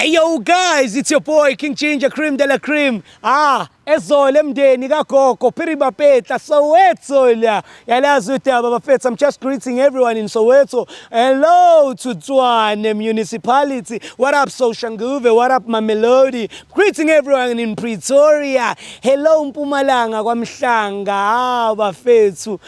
Hey yo guys, it's your boy King Ginger Cream de la Cream. Ah, ezole mndeni kagogo Phiri Bapetla Soweto la. Yalazi udaba bafethu, I'm just greeting everyone in Soweto. Hello to Tshwane Municipality. What up Soshanguve? What up Mamelodi? Greeting everyone in Pretoria. Hello Mpumalanga kwaMhlanga. Ah, bafethu.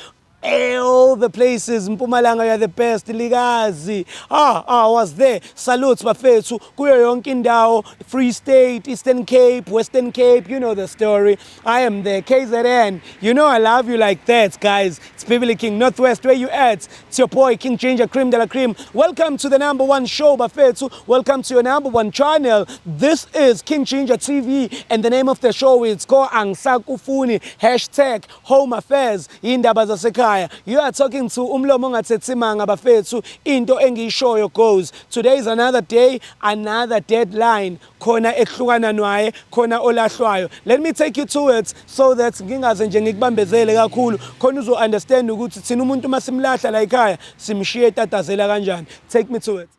Eyo the places Mpumalanga you're the best likazi ah ah was there salutes bafethu kuyo yonke indawo Free State Eastern Cape Western Cape you know the story I am there KZN you know I love you like that guys it's Bibli King Northwest where you at it's your boy King Ginger Cream de la Cream welcome to the number one show bafethu welcome to your number one channel this is King Ginger TV and the name of the show is Ko Angsakufuni hashtag Home affairs indaba zasekhaya. You are talking to umlomo ongathethimanga bafethu into engiyishoyo goes. Today is another day, another deadline. Khona ekuhlukana nwaye, khona olahlwayo. Let me take you to it so that ngingaze nje ngikubambezele kakhulu. Khona uzo understand ukuthi thina umuntu uma simlahla la ekhaya simshiye tatazela kanjani. Take me to it.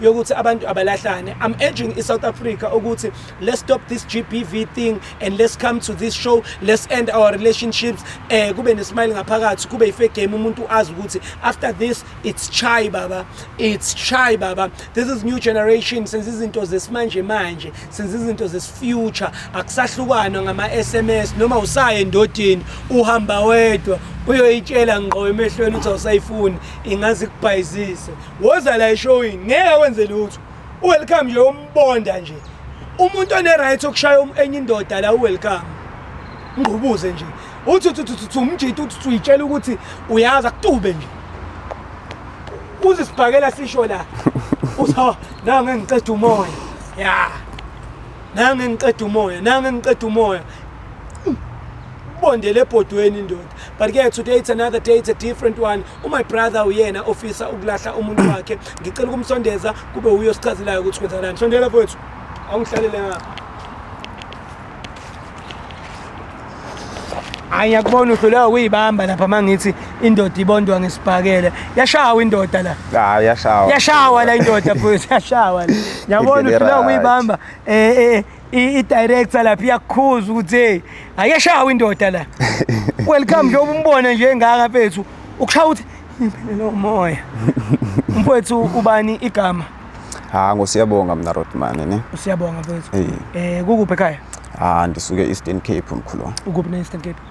yokuthi abantu abalahlane i'm urging isouth africa ukuthi let's stop this gbv thing and let's come to this show let's end our relationships eh kube nesmile ngaphakathi kube ife game umuntu azi ukuthi after this it's chai baba it's chai baba this is new generation senza izinto zesimanje manje senza izinto zesifuture akusahlukanwa ngama sms noma usaye endodini uhamba wedwa uyoyitshela ngqo emehlweni uthi awusayifuni ingaze ikubhayizise Woza la eshowini ngeke wenze lutho. Uwelcome nje umbonda nje. Umuntu one right okushaya um-, enye indoda la uwelcome. Ngqubuze nje. Uthi uthi uthi uthi umjita uthi uyitshela ukuthi uyazi akutube nje. Uzisibhakela sisho la. Uzo na ngiqeda umoya. Ya. Na ngiqeda umoya, na ngiqeda umoya. Bondele ebhodweni ndoda. But ke today it's another day, it's a different one. umy brother uyena ofisa ukulahla umuntu wakhe ngicela ukumsondeza kube uyo sichazelayo ukuthi kwenzakalani sondela mfowethu awungihlalele ngapha hayi ngiyakubona uhluleka ukuyibamba lapha uma ngithi indoda ibondwa ngesibhakele yashawa indoda la hayi yashawa yashawa la indoda mfowethu yashawa la ngiyabona uhluleka ukuyibamba um i-director lapha iyakukhuza ukuthi hey ayeshawa indoda la welcome nje ubumbone nje engaka mfethu ukushaya ukuthi imphelelo umoya mfethu ubani igama ha ngosiyabonga mina Rodman ne usiyabonga mfethu eh kukuphi ekhaya ah ndisuke Eastern Cape mkhulu ukuphi ne Eastern Cape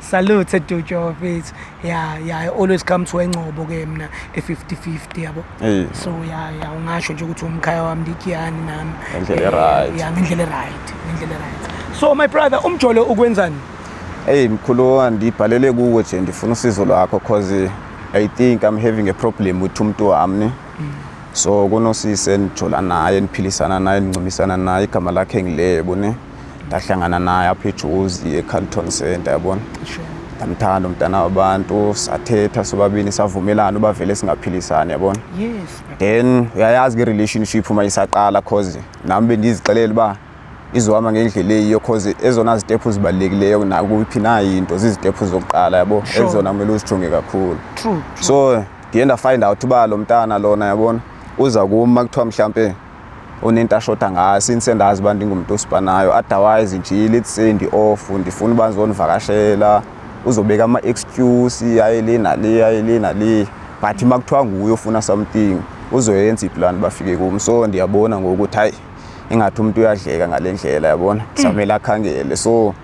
Salute Dujo bafethu. Yeah, yeah, I always come to eNgcobo ke mina e 50-50 yabo. Eh. So yeah, yeah, ungasho nje ukuthi umkhaya wami ndikiyani nami. Ngendlela Eh, e-right. Yeah, ngendlela e-right, ngendlela e-right. So my brother, umjolo ukwenzani? Hey mkhulu ndibhalele kuwe nje ndifuna usizo lwakho cause I think I'm having a problem with umuntu wami. So kunosisi endijola naye, endiphilisana naye, endincubisana naye, igama lakhe ngilebo ne. ndahlangana naye apha ejuzi ecarlton center yabona ndamthanda umntana wabantu sathetha sobabini savumelana uba vele singaphilisani yabona then uyayazi ke relationship uma isaqala cause nami bendizixelela uba izohamba ngendlela eyiyo cause ezona zitephu zibalulekileyo nakuphi na into zizitephu zokuqala yabo ezona kumele uzijonge kakhulu so ndiye ndafind out uba lo mntana lona yabona uza kum uma kuthiwa mhlawumpe unento ashoda ngayo since endazi uba ndingumuntu osipanayo otherwise nje let's say ndi-off ndifuna uba ndizonivakashela uzobeka ama-excuse aye le nale aye le nale but uma kuthiwa nguye ofuna something uzoyenza iplan bafike kum so ndiyabona ngokuthi hayi ingathi umuntu uyadleka ngale ndlela yabona samele akhangele so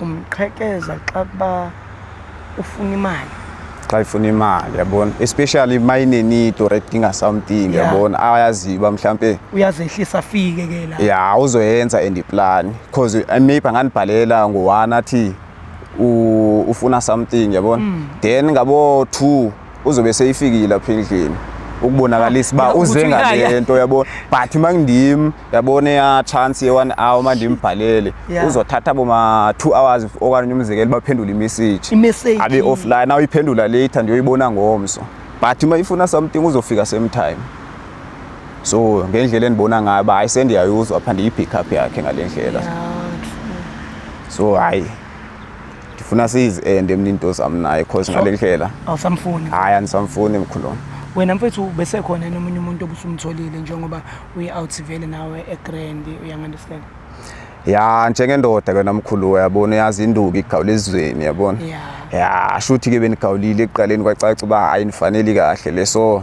umqhekeza xa kuba ufuna imali xa ifuna imali yabona especially uma inenito right dinga something yeah. yabona ayaziyo uba mhlawumpe uyazehlisa afike ke la ya uzoyenza and iplan because eh, maybe angandibhalela ngo-one athi ufuna something yabona mm. then ngabo-two uzobe seyifikile apha endlini ukubonakalisa uba uze ngale nto yabona but uma ngindim yabona eya chance ye-one hour uma ndimbhalele uzothatha boma-two hours okanye umzekelo baphendule imessage abe offline na uyiphendula later ndiyoyibona ngomso but uma ifuna something uzofika same time so ngendlela endibona ngayo uba hayi sendiyayuzwa pha ndiyi-pick up yakhe ngale ndlela so hayi ndifuna sizi ende mna into zam naye cause ngale ndlela awusamfuni hayi andisamfuni mkhulona wena mfethu besekhona yena omunye umuntu obusumtholile njengoba uyi-out vele nawe egrand uyangunderstand ya njengendoda ke namkhulu uyabona uyazi induku igawula ezweni yabona Yeah. ya shuthi ke benigawulile ekuqaleni kwacaca uba hayi nifaneli kahle le so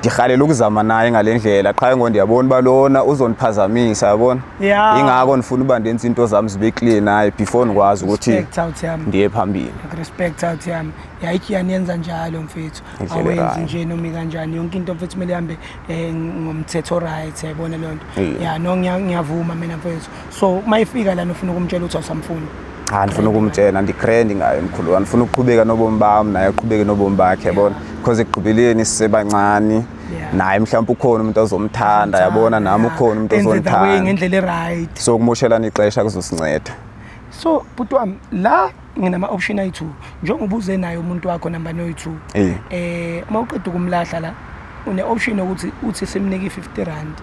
ngihalela ukuzama naye ngale ndlela qha ngo ndiyabona uba lona uzondiphazamisa yabona yeah. ingako ndifuna uba ndenza iinto zam zibe clear naye before ndikwazi ukuthi ndiye phambili respect out yami yayikhi yaniyenza njalo mfethu awenzi nje nomi kanjani yonke into mfethu kumele ihambe um ngomthetho right yayibona leyo nto ya no ngiyavuma mina mfethu so uma ifika lana ufuna ukumtshela ukuthi awusamfuni cha ndifuna ukumtshela ndigrand ngayo mkhulu wami ndifuna ukuqhubeka nobomi bami naye aqhubeke nobomi bakhe yabona because ekugqibeleni sisebancane naye mhlawumbe ukhona umuntu ozomthanda yabona nami ukhona umuntu Enze the way ozongithanda ngendlela eright so ukumoshelana ixesha kuzosinceda so bhuti wami la nginama option ayi-2 njengoba ubuze naye umuntu wakho namba noyi-2 Eh. eh uma uqeda ukumlahla la une option yokuthi uthi simnike i-50 rand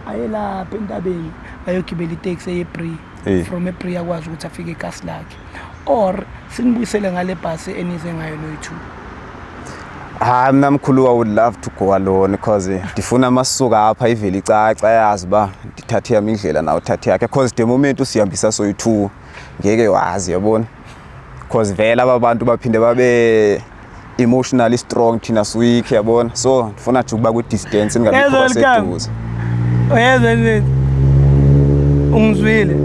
ayelapha entabeni ayogibela iteksi eyebree Eh. from ebree akwazi ukuthi afike ekasi lakhe or sinibuyisele ngale bhasi enize ngayo noyi-two hayi mna mkhulu i would love to go alone because ndifuna amasuka apha ivele icaca yazi uba ndithathe yam indlela nawo uthathe yakhe because the moment usihambisa soyi-two ngeke wazi yabona because vele aba bantu baphinde babe emotionally strong thina siweak yabona so ndifuna nje ukuba kwi-distance ndingabikho seduze uyezwa nini ungizwile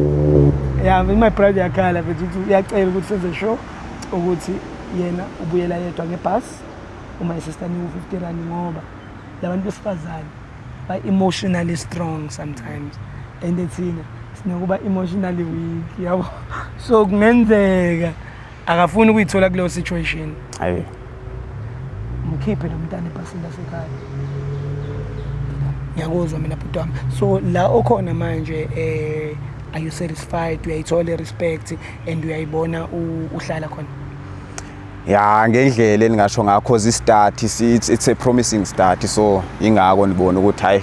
ya my brother yakhala mfethu ukuthi uyacela ukuthi senze show ukuthi yena ubuyela yedwa ngebhasi uma esesitani u-fifty rand ngoba labantu besifazane ba-emotionally strong sometimes and thina sinokuba emotionally weak yabo so kungenzeka akafuni ukuyithola kuleyo situation hayi mkhiphe lo mntana ebhasini lasekhaya ngiyakuzwa mina bhuti wami so la okhona manje eh are you satisfied uyayithola i-respect and uyayibona u- uhlala khona ya ngendlela eningasho ngakho zistart it's, it's a promising start so ingako nibona ukuthi hayi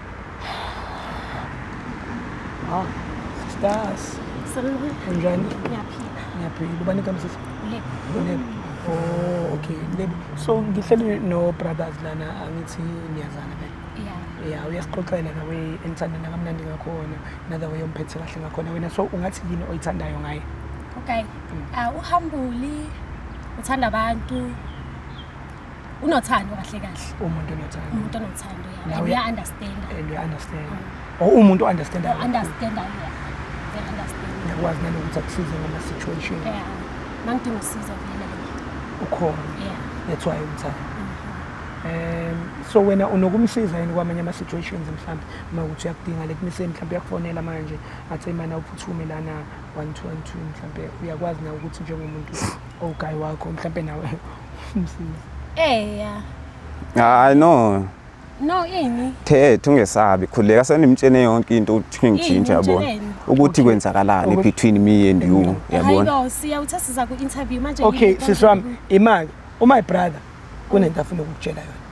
Ah, stars. Salute. Unjani? Ngiyaphila. Ngiyaphila. Ubani kami sisi? Ulebe. Ulebe. Oh, okay. Ulebe. So ngihleli no brothers lana angithi niyazana ke. Yeah. Yeah, uyasixoxela the way engithanda nakamnandi ngakhona, another way omphethe kahle ngakhona wena. So ungathi yini oyithandayo ngaye? Okay. Mm. Uh, uhambuli uthanda abantu unothando kahle kahle umuntu onothando umuntu onothando yeah. and uya understand and uya understand mm. or umuntu understand understand yeah understand yakwazi nalo ukuthi akusize ngama situation yeah mangidinga usizo vele ukhona yeah that's why umthanda um so wena unokumsiza yini kwamanye ama situations mhlawumbe uma ukuthi uyakudinga le kumise mhlawumbe uyakufonela manje athi imana uphuthume lana 112 mhlawumbe uyakwazi na ukuthi njengomuntu owugayi wakho mhlawumbe nawe Eya. Ah, I know. No ini. Thethe ungesabi khuleka senimtshene yonke into ukuthi ngijinja yabona. Ukuthi kwenzakalani between me and you yabona. Hayibo siya uthasiza ku interview manje. Okay siswami imali uma ibrother kunento afuna ukukutshela yona.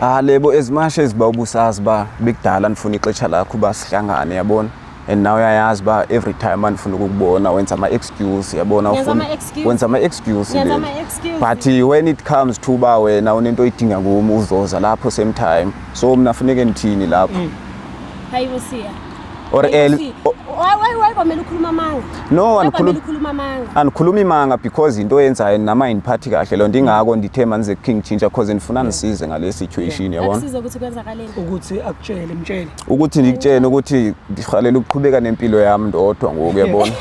Ah lebo as much as ba ubusazi ba bekudala nifuna ixesha lakho ba sihlangane yabona and now uyayazi ba every time andifuna ukukubona wenza ama excuse yabona ufuna wenza ama excuse but when it comes to ba wena unento oyidinga ngumi uzoza lapho same time so mina funeke ngithini lapho mm. hayibo siya or early wayibamela ukhuluma amanga no angikhuluma amanga angikhuluma imanga because into yenzayo nama indiphathi kahle lonto ingako ndithe manze king chintsha because ndifuna nisize ngale situation yabona akusize ukuthi kwenzakaleni ukuthi akutshele mtshele ukuthi ngikutshene ukuthi ngihalela ukuqhubeka nempilo yami ndodwa ngoku yabona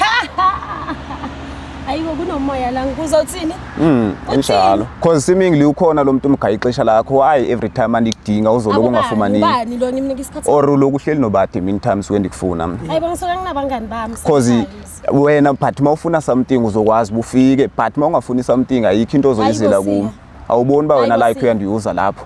ayibo kunomoya la ngikuzothini Mm, injalo. Cause seemingly ukhona lo muntu umgaya ixesha lakho. Why every time andikudinga uzoloku ungafumaniki? Ubani lo ngimnika isikhathi? Or uloku uhleli nobade mean times when ndikufuna. Hayi bangisoka nginabangani bami. Cause wena but mawufuna something uzokwazi bufike but mawungafuni something ayikho into ozoyizela kuwe. Awuboni ba wena like uyandiuza lapho.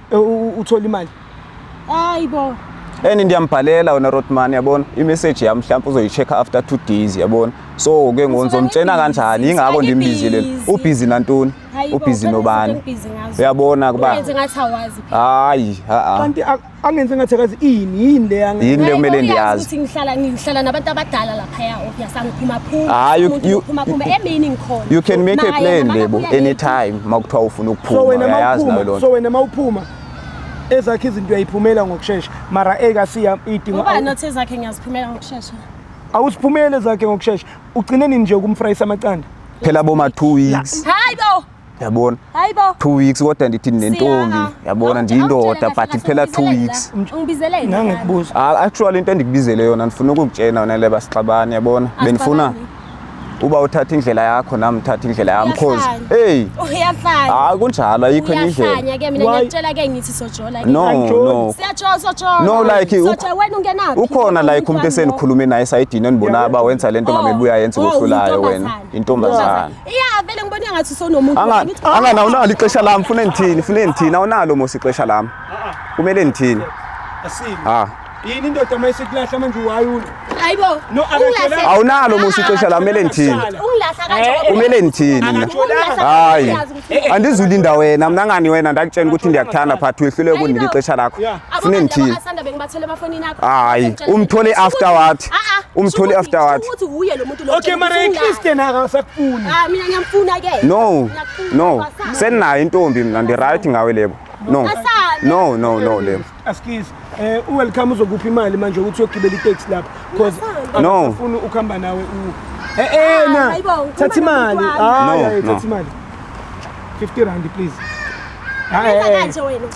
uthola imali hayi bo and ndiyambhalela wena Rodman yabona imessage yami mhlawumbe uzoyicheck after 2 days yabona so ke ngizomtshena kanjani ingakho ndimbizile ubhizi nantoni ubhizi nobani uyabona kuba hayi ha kanti angenze ngathi akazi ini yini le yini le kumele ndiyazi ukuthi ngihlala ngihlala nabantu abadala la Ah, you, you, you can make a plan lebo anytime makuthiwa ufuna ukuphuma uyayazi nayo lona so wena mawuphuma ezakhe izinto uyayiphumela ngokushesha mara eka siya idingo ngoba not ezakhe ngiyaziphumela ngokushesha awusiphumele zakhe ngokushesha ugcine nini nje ukumfrayisa amacanda phela boma 2 weeks hayi bo yabona hayibo two weeks kodwa ndithi ndinentombi Siya, ah. yabona Awuthi- ndiyindoda awutshele but kahle iphela kahle two ungibizeleni weeks la. Ungibizeleni la. Ngangikubuza. Ah, actually into endikubizele yona ndifuna ukukutshena wena leba sixabane yabona bendifuna Asixabani. uba uthatha indlela yakho nami uthatha indlela yami cause Uyahlanya. hey Uyahlanya. hayi kunjalo ayikho enye indlela Uyahlanya ke mina Why? ngiyakutshela ke ngithi sojola ke. no Angijoli. no Siyajola sojola. No, like, uk- Sojola wena ungenaphi? ukhona like umuntu Umntwana lo. esenikhulume naye esayidini endibonayo uba wenza le nto Oh, ngabe buyayenza oh, ukohlulayo wena intombazane. intombazane Yeah, vele ngibona engathi sonomuntu. Anga anga na unalo ixesha lami funa ngithini funa ngithini awunalo mosi ixesha lami. Kumele ngithini. Asimi. Ah. Yini indoda mayisekulahla manje uwayula. Hayibo. No, akatholanga. Awunalo mosi ixesha lami kumele ngithini. Ungilahla kanjalo. Kumele ngithini mina. Akatholanga. Hayi. Andizulinda wena mina ngani wena ndakutshela ukuthi ndiyakuthanda phathi wehlule kundinika ixesha lakho. Yeah. Funa ngithini. Asanda bengibathele amafonini akho. Hayi, umthole after what? Ah ah. Umthole after what? Ukuthi uye lo muntu Okay mara eChristian akasakufuni. Ah mina ngiyamfuna ke. No. No. Senayo intombi mina ndi right ngawe lebo. No. No no no lebo. Askies eh u welcome uzokuphi imali manje ukuthi uyogibela itaxi lapha because no ufuna ukuhamba nawe u Eh eh na. Thatha imali. Ah thatha imali. 50 rand please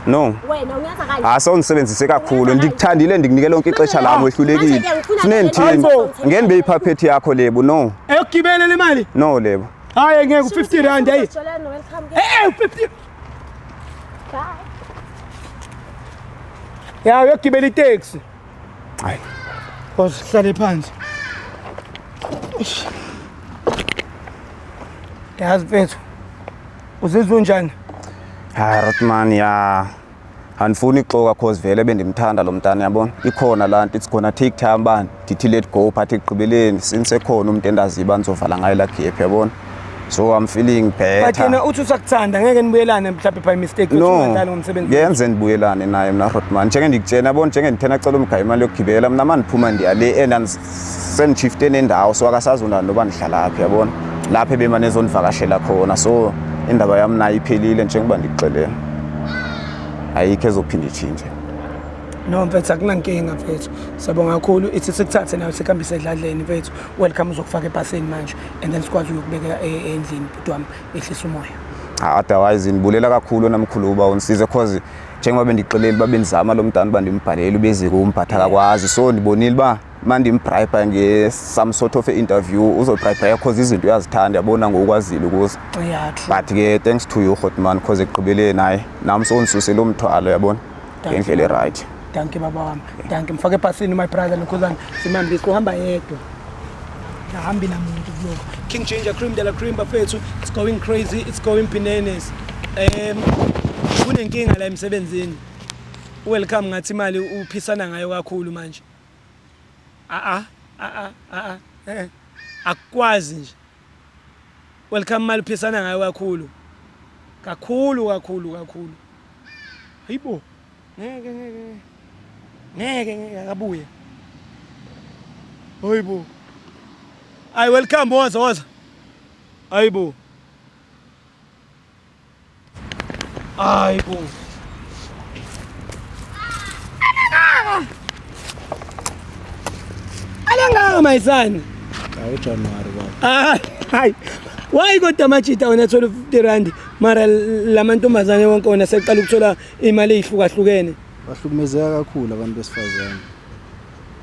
no hayi sewundisebenzise kakhulu ndikuthandile ndikunikela lonke ixesha lam wehlulekile funeke ndithini ngeke ndibe yiphaphethi yakho lebo no eyokugibela le mali no lebo hayi ngeke u-50 rand ayi e-e u-50 ya uyogibela iteksi Hayi. Boss hlale phansi. Eish. Yazi mfethu. Uzizwa unjani? Hayi Rotman ya. Andifuni ixoka cause vele bendimthanda lo mntana yabona. Ikhona la nto it's gonna take time bani. Ndithi let go phathi ekugqibeleni since ekhona umuntu endaziba nizovala ngaye la gap yabona. so i'm feeling better but yena uthi usakuthanda ngeke nibuyelane mhlawumbe by mistake no yenze nibuyelane naye mina Rodman njenge ndikutshena yabona njenge ndithena cela umgaya imali yokugibela mina manje ndiphuma ndiya le and sendishifte nendawo so akasazona noba ndihlala phi yabona lapha ebemane ezondivakashela khona so indaba yami nayo iphelile njengoba ndikuxelela ayikho ezophinde itshintshe no mfethu akunankinga mfethu siyabonga kakhulu ithi sikuthathe nayo sikhambise edladleni mfethu welcome uzokufaka ebhasini manje and then sikwazi uyokubeka e, endlini bhuti wami ehlisa umoya ah, otherwise ndibulela kakhulu namkhulu uba undisize cause njengoba bendixeleli uba bendizama lo mntana uba ndimbhalele ubezike umbhatha kakwazi so ndibonile uba uma ndimbribha nge-some sort of interview uzobribhaya cause izinto uyazithanda yabona ngokwazile ukuze but ke thanks to you hotman cause ekugqibeleni hayi nam sowundisuse lo mthwalo yabona ngendlela e-right danki baba wami danki mfake ebhasini my brother nokhuzane simambisi kuhamba yedwa ahambi namuntu kuloko king ginger cream de la cream bafethu it's going crazy it's going bananas um kunenkinga la emsebenzini welcome ngathi imali uphisana ngayo kakhulu manje a a a a a akwazi nje Welcome mali phisana ngayo kakhulu. Kakhulu kakhulu kakhulu. Hayibo. Ngeke ngeke. Ngeke ngeke akabuye. Hayibo. Ay welcome woza woza. Hayibo. 아이고. Alanga my son. Awu January baba. Ah, hayi. Why kodwa amajita wena thola 50 rand mara lamantombazane wonke wona seqala ukuthola imali ezihlukahlukene. Bahlukumezeka kakhulu abantu besifazane.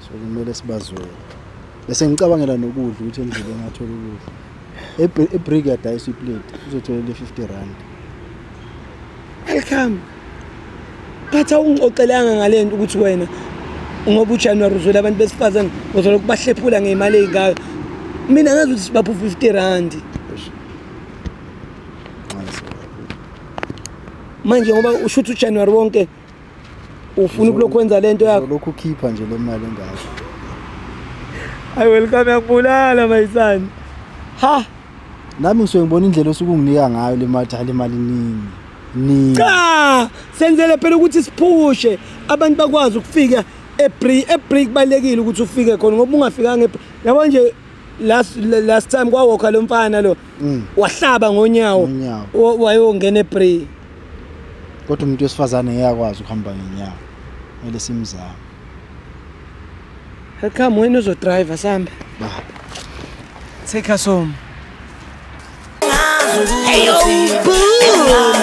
so kumele sibazwele bese ngicabangela nokudla ukuthi endleleni ngathola ukudla ibreak yadayisa iplate uzotholela i-50 rand welcome khathi awungixoxelanga ngale nto ukuthi wena ngoba ujanuwari uzwela abantu besifazane uzola ukubahlephula ngey'mali ey'ngaka mina ngazi ukuthi sibapha u-fifty randi manje ngoba usho ukuthi ujanuwari wonke ufuna ukulokhu wenza lento yakho lokhu khipha nje le mali engaka I welcome yakubulala my son ha nami ngisuke ngibona indlela osuke unginika ngayo le mali cha le mali nini nini cha senzele phela ukuthi siphushe abantu bakwazi ukufika ebreak ebreak balekile ukuthi ufike khona ngoba ungafikanga yabo nje last last time kwawokha lo mfana lo Mm. wahlaba ngonyawo Ngonyawo. wa- wayongena ebray kodwa umuntu wesifazane ngeke akwazi ukuhamba ngenyawo kumele simzame come wena uzodrive sambe ba take us home Hey, yo, boo.